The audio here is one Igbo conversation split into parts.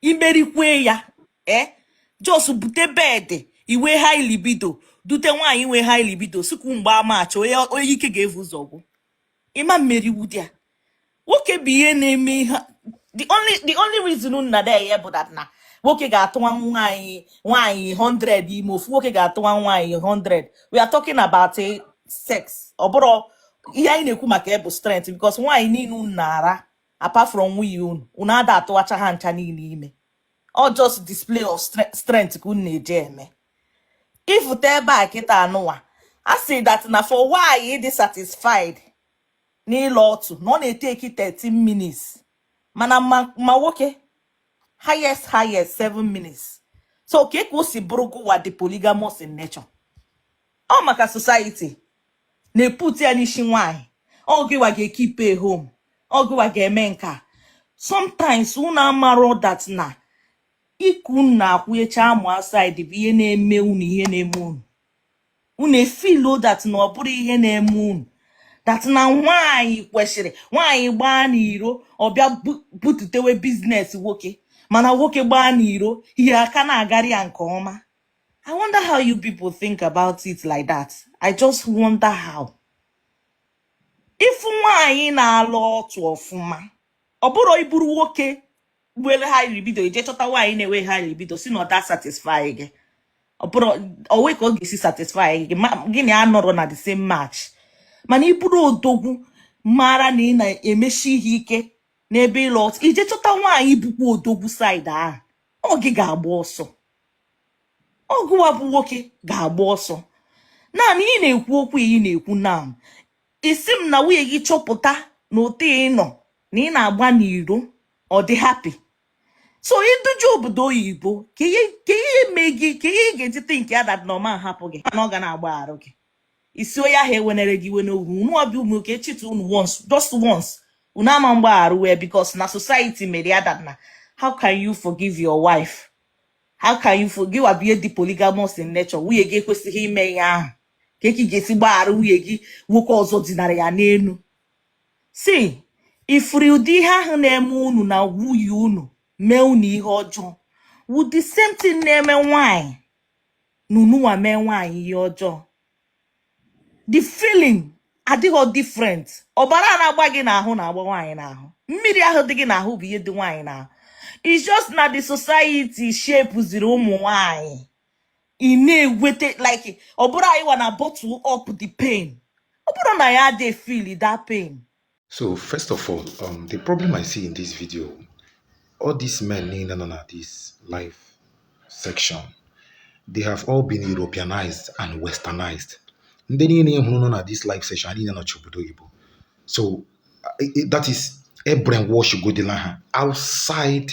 imerikwe ya ee just bute bed i nwee high libido dute nwaanyị nwe high libido sikwu mgba match onye ike ga-evu ụzọ gwụ ị ma mmeri wudi ya nwoke bụ ihe na-eme ihe the only the only reason nọ na ya bụ that na nwoke ga-atụwa nwaanyị nwaanyị 100 ime ofu nwoke ga-atụwa nwaanyị 100 we are talking about eh, sex ọ bụrụ ihe anyị na-ekwu maka ya bụ strength because nwaanyị niile na-ara apart from nwunye unu unu ada atụwacha ha ncha niile ime ọ just display of strength ka unu na-eje eme ị fụta ebe a kịta a nụwa a sị that na for nwaanyị ịdị satisfied n'ịla ọtụ na ọ na-etake 13 minutes mana ma nwoke highest highest 7 minutes so kee ka o si bụrụ gụwa dị polygamous in nature ọ maka society na-eput ya n'isi nwaanyị ọ gịwa ga-ekeep home ọ gịwa ga-eme nka sometimes unu amarọ that na iku unu na-akwụnyecha amụ outside bụ ihe na-eme unu ihe na-eme unu unu efeel that na ọ bụrụ ihe na-eme unu that na nwaanyị kwesịrị nwaanyị gbaa n'iro ọ bịa bututewe business nwoke mana nwoke gbaa n'iro ihe aka na-agara ya nke ọma I wonder how you people think about it like that. I just wonder how. If nwaanyị na-ala ọtụ ọfụma, ọ bụrụ ị bụrụ nwoke were high libido i jee chọta nwaanyị na-enwe high libido sị na ọ da satisfy gị. Ọ bụrụ onwe ka ọ ga-esi satisfy gị gị na ya anọrọ na the same match. Mana ị bụrụ odogwu mara na ị na-emeshi ihe ike n'ebe ịla ọtụ i jee chọta nwaanyị bụkwa odogwu side ahụ ọ gị ga-agba ọsọ. ọ gụwa bụ nwoke ga-agba ọsọ naanị ị na-ekwu okwu ị na-ekwu na ị sị m na nwunye gị chọpụta na otu ị nọ na ị na-agba n'iro ọ dị happy so i duje obodo oyibo kee ihe mee gị kee ihe ị ga-eji think ya that na ọ ma hapụ gị na ọ ga na-agbagharụ gị ị sị onye ahụ ewenere gị iwe n'ogwu unu ọ bịa ụmụ nwoke cheat unu once just once unu ama mgbagharụ wee because na society mere ya that na how can you forgive your wife how can you for gịwa bịa dị polygamous in nature nwunye gị ekwesịghị ime ihe ahụ kee ka ị ga-esi gbaghara nwunye gị nwoke ọzọ dinara ya n'elu see ị fụrụ ụdị ihe ahụ na-eme unu na nwunye unu mee unu ihe ọjọọ wụ the same thing na-eme nwaanyị na ununwa mee nwaanyị ihe ọjọọ the feeling adịghị different ọbara na-agba gị n'ahụ na-agba nwaanyị n'ahụ mmiri ahụ dị gị n'ahụ bụ ihe dị nwaanyị n'ahụ it's just na the society shapeziri ụmụ nwaanyị ị na-eweta like ọ bụrụ anyị wa na bottle up the pain ọ bụrọ na anyị adịghị feel that pain So first of all, um, the problem I see in this video, all these men niile nọ na this live section, they have all been Europeanized and westernized. Ndị niile ị hụrụ nọ na this live session ha niile nọcha obodo oyibo. So that is e brainwashugodila ha outside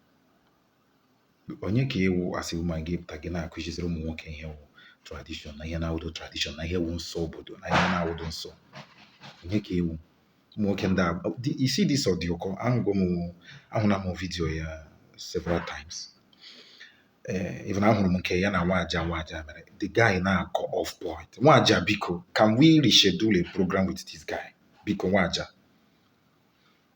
onye ka ị wụ as a woman gị pụta gị na-akụziziri ụmụ nwoke ihe wụ tradishọn na ihe na-awụdo tradishọn na ihe wụ nsọ obodo na ihe na-awụdo nsọ onye ka ị wụ ụmụ nwoke ndị a you see this ọdịụkọ ahụgo m ahụla m vidiyo ya several times ee eh, even ahụrụ m nke ya na nwaja nwaja mere the guy na-akọ off point nwaja biko can we reschedule a program with this guy biko nwaja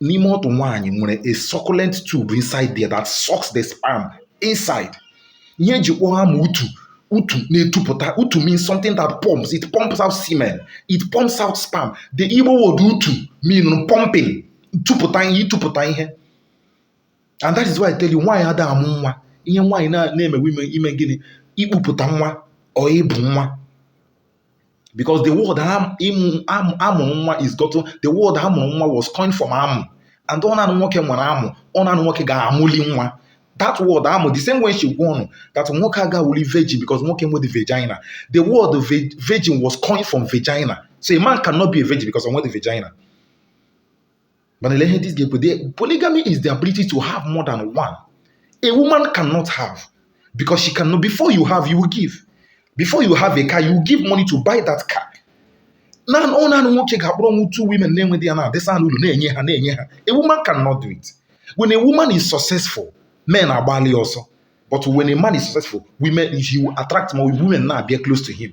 n'ime ọtụ nwaanyị nwere a succulent tube inside there that sucks the sperm inside ihe e ji kpọọ amụ utu utu na-etupụta utu means something that pumps it pumps out semen it pumps out sperm the igbo word utu mean pumping tupụta ihe ịtụpụta ihe and that is why I tell you nwaanyị ada amụ nwa ihe nwaanyị na-eme wụ ime gịnị ikpupụta nwa or ịbụ nwa because the word am- ịmụ- am- amụ nwa is gotten the word amụrụ nwa was coined from amụ and ọ naanị nwoke nwere amụ ọ naanị nwoke ga-amụli nwa that word amụ the same way m si gwa ụnụ that nwoke agawuli virgin because nwoke enwede vagina the word vi- virgin was coined from vagina so a man cannot be a virgin because o nwede vagina mana ele ihe this guy ekwu the polygamy is the ability to have more than one a woman cannot have because she cannot before you have you will give before you have a car you will give money to buy that car na ọ naanị nwoke ga-akpọrọnwu two women na-enweghị ya na-edisa ha n'ụlọ na-enye ha na-enye ha a woman cannot do it when a woman is successful men agbalị ya ọsọ but when a man is successful women he will attract more women na-abịa close to him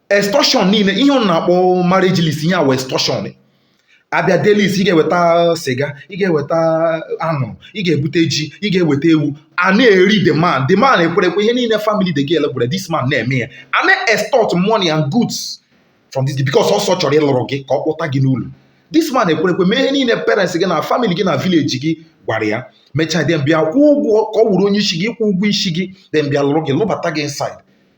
extortion niile ihe ọ na-akpọ marriage list ihe a wụ extortion a bịa dee list ị ga-eweta sịga ị ga-eweta anụ ị ga-ebute ji ị ga-eweta ewu a na-eri the man the man ekwerekwe ihe niile family the girl gwara this man na-eme ya a na-extort money and goods from this because ọ sị ọ chọrọ ịlụrụ gị ka ọ kpọta gị n'ụlọ this man ekwerekwe mee ihe niile parents gị na family gị na village gị gwara ya mechaa then bịa kwụọ ụgwọ ka ọ wụrụ onye isi gị ịkwụ ụgwọ isi gị then bịa lụrụ gị lụbata gị inside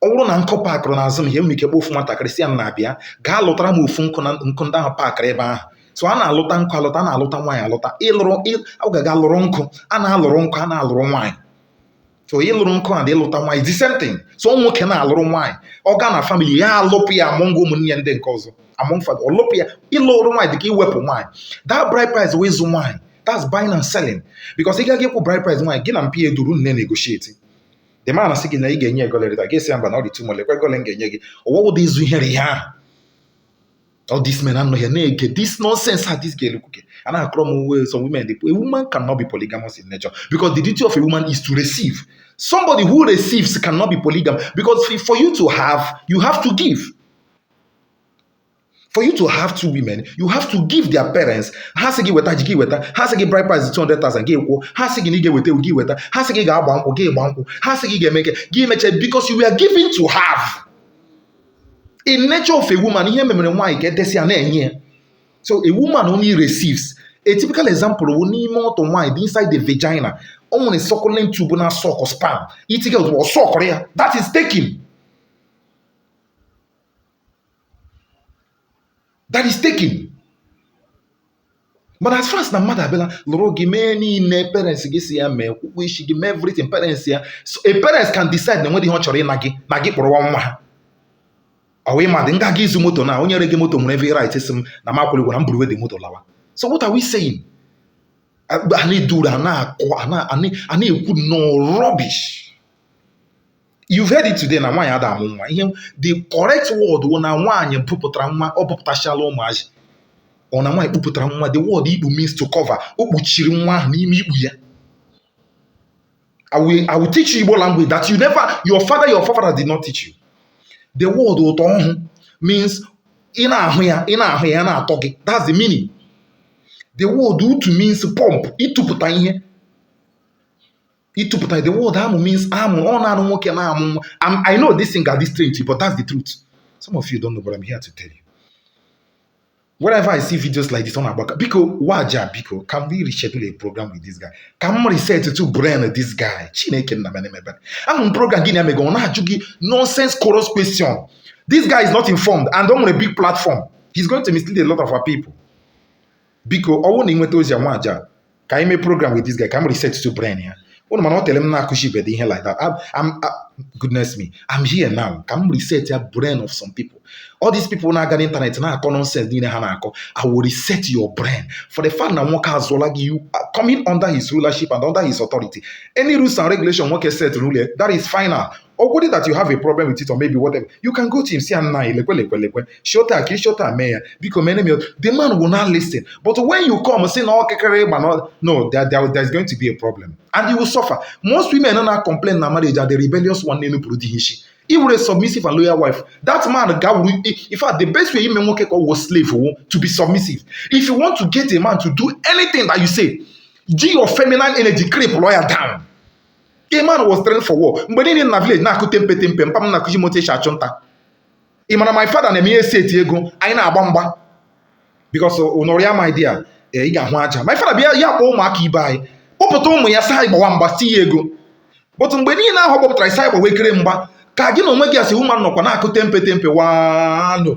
ọ wụrụ na nkụ pakịrị n'azụ m here m nwere ike kpọọ ofu nwatakịrị sị ya nna bịa gaa lụtara m ofu nkụ na nkụ ndị ahụ pakịrị ebe ahụ so a na-alụta nkụ alụta a na-alụta nwaanyị alụta ịlụrụ ị- ọ ga-aga lụrụ nkụ a na-alụrụ nkụ a na-alụrụ nwaanyị so ịlụrụ nkụ and ịlụta nwaanyị the same thing so ọ nwoke na-alụrụ nwaanyị ọ gaa na famili ya alụpụ ya among ụmụnne ya ndị nke ọzọ among family ọ lụpụ ya ịlụrụ nwaanyị dịka iwepụ nwaanyị that bride price wụ ịzụ nwaanyị that's buying and selling because ị gaa ịkwụ bride price nwaanyị gị na mpa ya adụrụ na-enegotiate the man asị gị na ị ga-enye ego lerịta gị sị ya mba na ọ dị too much lekwe ego ole m ga-enye gị ọ wụ ụdị izu ihere ihe ahụ all these men a nọ here na-ege this nonsense a this girl kwuge a na-akọrọ m uwe some women dey a woman cannot be polygamous in nature because the duty of a woman is to receive somebody who receives cannot be polygamous because for you to have you have to give for you to have two women you have to give their parents ha sị gị weta ji gị weta ha sị gị bride price 200,000 gị kwụọ ha sị gị na ị ga-eweta ewu gị weta ha sị gị ga-agba nkwụ gị gba nkwụ ha sị gị ga-eme nke gị meche because you were giving to have in nature of a woman ihe e memere nwaanyị ka edesi ya na-enye ya so a woman only receives a typical example wụ n'ime ọtụ nwaanyị dị inside the vagina o nwere suckling tube na-suck sperm i tinye ozugbo ọ suckụrụ ya that is taking that is taking but as far as na mmadụ abịala lụrụ gị mee ihe niile parents gị sị ya mee kwụkwọ isi gị mee everything parents ya so a parents can decide na enweghị ihe ọ chọrọ ịna gị na gị kpọrọwa nwa ha ọ wụ ịma dị nga gị ịzụ moto na onye rege moto nwere every right sị m na m akwụghị ụgwọ na m buruwe the moto lawa so what are we saying a nọduru a na-akọ a na- a na- a na-ekwu nnọọ rubbish you've heard it today na nwaanyị ada amụ nwa the correct word wụ na nwaanyị kpupụtara nwa o kpupụtachala ụmụazị ọ na nwaanyị kpupụtara nwa the word ikpu means to cover o kpuchiri nwa ahụ n'ime ikpu ya I will, I will teach you Igbo language that you never, your father, your forefather did not teach you. The word ụtọ ọhụ means ị na-ahụ ya, ị na-ahụ ya, ya na-atọ gị. That's the meaning. The word utu means pump, ịtụpụta ihe. ịtụpụta the word amụ means amụ ọ na ọ wụ nwoke na-amụ nwa I'm- I know this thing ga-adị strange but that's the truth some of you don't know but I'm here to tell you whenever I see videos like this ọ na-agbaka biko Nwaja biko can we reschedule a program with this guy ka m resettụ brain this guy chineke nna mere m ebere ahụ m program gị na ya mega ọ na-ajụ gị nonsense chorus question this guy is not informed and o nwere big platform he's going to mislead a lot of our people biko ọ wụrụ na ị nweta ozi a Nwaja ka anyị mee program with this guy ka m resettụ brain ya ụnụ ma na o teele m na-akụzibedị ihe like that I'm- I'm- I- goodness me I'm here now ka m resetịa brain of some people all these people na-aga n'ịntanetị na-akọ nonsense niile ha na-akọ I will reset your brain for the fact na nwoke azụọla gị you are coming under his rulership and under his authority any rules and regulation nwoke set n'ụlọ ya, that is final ọ wụdị that you have a problem with it or maybe whatever you can go to him sị ya nna lekwe lekwe lekwe shota ka ịshota mee ya biko mere m ya the man will now listen but when you come sị na ọkịkịrị ịgba na no there, there, there is going to be a problem and you will suffer most women nọ na complain na marriage are the rebellious one na-enupụrụ di ha isi ị wụrụ submissive and loyal wife that man ga-awụrụ in fact the best way ime nwoke ka ọ wụ slave wụ to be submissive if you want to get a man to do anything that you say ji your feminine energy cripple ya down a man was trained for war mgbe niile na village na-akụ tempe tempe mpa m na-akụzi m otu esi achụ nta ị mara my father na-eme ihe seti ego anyị na-agba mgba because nụrụ ya my dear ee ị ga-ahụ aja my father bịa ya kpọọ ụmụaka ibe anyị kpọpụta ụmụ ya sị anyị gbawa mgba si ya ego but mgbe niile ahụ ọ kpọpụtara sị anyị gbawa ekere mgba ka gị na onwe gị as woman nọkwa na-akụ tempe tempe wano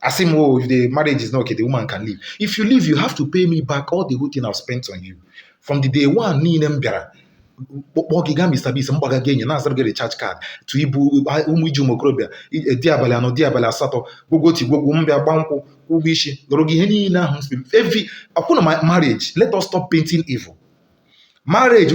asị m oh if the marriage is not okay the woman can leave if you leave you have to pay me back all the whole thing I've spent on you from the day one niile m bịara kpọọ gị gaa Mr. Bigg's m gbaga gị enyi na-azụrụ gị recharge card to ibu ụmụ iji ụmụ okorobịa i- e, di abalị anọ di abalị asatọ gwogwo ti gwogwo m bịa gba nkwụ kwụ ụgwọ isi lụrụ gị ihe niile ahụ m siri every akwụna my marriage let us stop painting evil marriage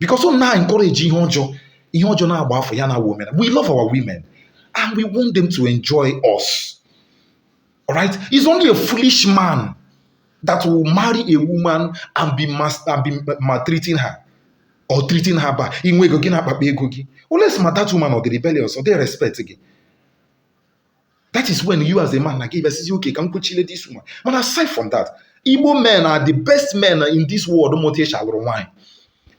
because ọ na encourage ihe ọjọọ ihe ọjọọ na-agba afọ ya na women we love our women and we want them to enjoy us all right he's only a foolish man that will marry a woman and be mas and be maltreating her or treating her bad inwe ego gị na-akpakpa ego gị oles ma that woman ọ dị rebellious ọ dị respect gị that is when you as a man na gị bịasịzi okay ka m kuchile this woman mana aside from that igbo men are the best men in this world ma otu esi alụrụ nwaanyị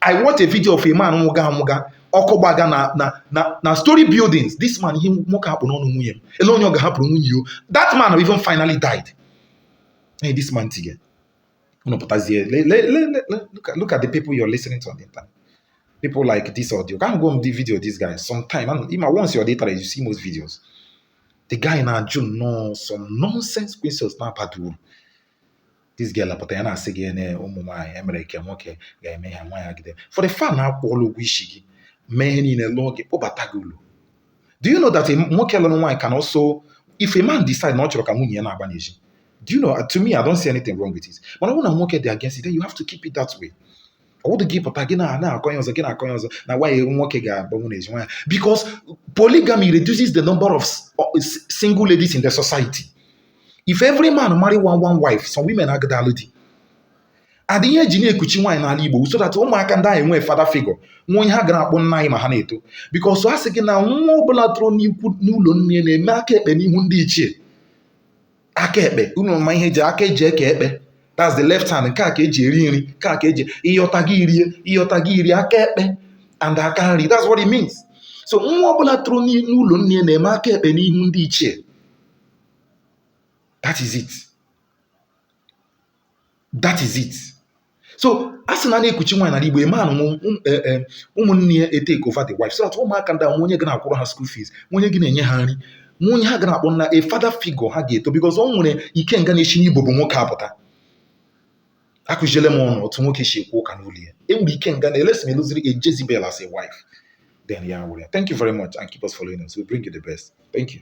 i watch a video of a man nwụga anwụga ọkụ gbaga na na na na story buildings this man ihe nwoke a kpụ n'ọnụ nwunye m ele onye ọ ga-ahapụrụ nwunye o that man even finally died hey, this man tige unu pụtazie look at the people you're listening to on the internet people like this audio ka go m the video this guy sometime ị ma once you're data you see most videos the guy na-ajụ nnọọ some nonsense questions na-abada uru this girl apụta ya na-asị gị na ụmụ nwaanyị emere nke nwoke ga-eme ha nwaanyị agide for the fact na a kwụọla ụgwọ isi gị mee ihe niile lụọ gị kpọbata gị ụlọ do you know that nwoke lụrụ nwaanyị can also if a man decide na ọ chọrọ ka nwunye ya na-agba n'ezi do you know to me I don't see anything wrong with it mana ọ bụrụ na nwoke dị against it then you have to keep it that way ọ wụdụ gị pụta gị na na-akọ ya ọzọ gị na-akọ ya ọzọ na nwaanyị nwoke ga-agbanwu n'ezi nwaanyị because polygamy reduces the number of single ladies in the society if every man marry one one wife some women agada alụ di and ihe eji na-ekuchi nwaanyị n'ala Igbo so that ụmụaka ndị a enwee father figure nwee onye ha ga na-akpọ nna anyị ma ha na-eto because a sị gị na nwa ọbụla toro n'ikwu n'ụlọ nne na-eme aka ekpe n'ihu ndị ichie aka ekpe unu ma ihe eji aka eji eke ekpe that's the left hand nke a ka eji eri nri nke a ka eji ị yọta gị erie ị yọta gị erie aka ekpe and aka nri that's what it means so nwa ọbụla toro n'ụlọ nne na-eme aka ekpe n'ihu ndị ichie that is it that is it so a sị na a na-ekuchi nwaanyị n'ala Igbo ị ma na e, e, ụmụnne ya etake over the wife so that ụmụaka ndị a nwee onye ga na-akwụrụ ha school fees nwee onye ga na-enye ha nri nwee onye ha ga na-akpọ nna a father figure ha ga-eto because ọ nwere ikenga na-esi n'ibobo nwoke apụta akụziele m unu otu nwoke si ekwu ụka n'ụlọ ya e nwere ikenga unless ma ị lụziri a Jezebel as a wife then yeah well thank you very much and keep us following us we bring you the best thank you